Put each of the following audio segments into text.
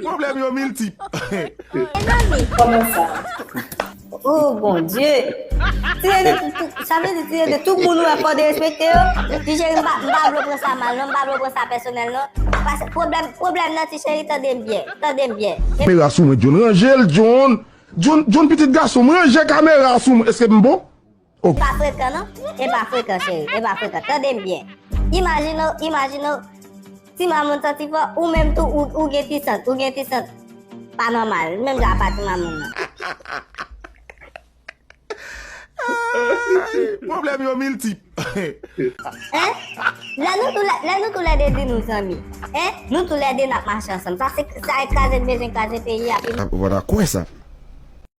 Pwoblèm yo miltip. Mezanmi koman sa. Oh bondye. Sa vle di kriye de tout moun ou wè fò derespekte yo. Ti cheri m pa vle w pran sa mal non, m pa vle w pran sa pèsonèl non. Pase pwoblèm pwoblèm nan ti cheri tande m byen, tande m byen. Kamera sou mwen John ranje l John John pitit gason m ranje kamera sou mwen eske m bon. Ou pa frekan non, e pa frekan cheri, e pa frekan, tande m byen. Imajine w, imajine w, ti mamoun santi fò, ou menm tou ou gen ti sant, ou gen ti sant pa nòmal, menm jan apa ti mamoun nan. Pwoblèm yo miltip. Hein? Lè nou tou lè, lè nou tou lè 2 di nou zanmi. Hein? Nou tou lè 2 n ap mache ansanm. Sa se, sa e kraze n bezwen kraze peyi a. Ou pa ta kwè sa.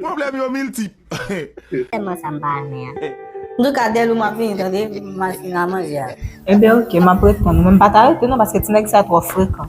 Pwoblèm yo miltip. Sèlman sa m pa renmen an. Antouka Delou map vini tande m mal fini a manje a. Ebyen ok map reponn ou men m pa ta rete non paske ti nèg sa twò frekan.